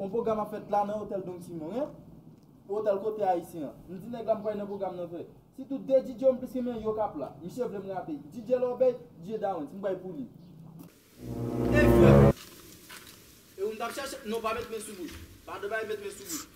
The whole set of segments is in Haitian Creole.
Yon pwogram ap fèt la nan otèl Don Simon an, otèl kote ayisyen an. M di nèg la m kwè nan pwogram nan vre. Se tou 2 DJ yo m plis renmen yo k ap la. Misye vle m rape. DJ Lòbèy, DJ Dawens. M bay pou li.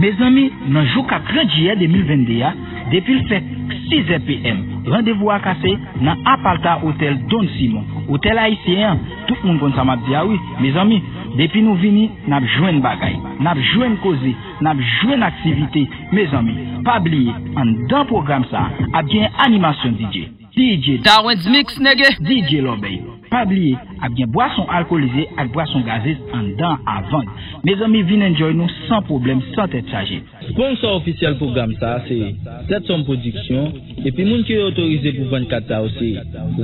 Mezanmi, nan jou 4 jiyè 2022 a, depi l fèk 6 zè PM, randevou a kase nan Apalta Otèl Don Simon, otèl ayisyen an, tout moun konn sa m ap di a wi, mezanmi, depi nou vini, n ap jwenn bagay, n ap jwenn koze, n ap jwenn aktivite, mezanmi, pa bliye, anndan pwogram sa a, ap gen animasyon DJ. DJ Darwens Mix nège. DJ Lòbèy Pa bliye ap gen bwason alkolize ak bwason gazez anndan a vann. Mezanmi vin enjoy nou san pwoblèm san tèt chaje. Sponsor ofisyèl pwogram sa a se Tetsòm Production epi moun ki yo otorize pou vann kat sa yo se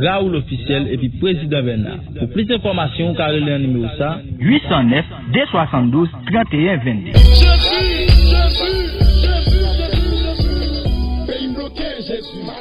Raoul Officiel epi Prezidan Bèna. Pou plis enfòmasyon ou ka rele an nimewo sa a. 809 272 31 22. Jezi, Jezi, Jezi, Jezi, Jezi, peyi m bloke, Jezi.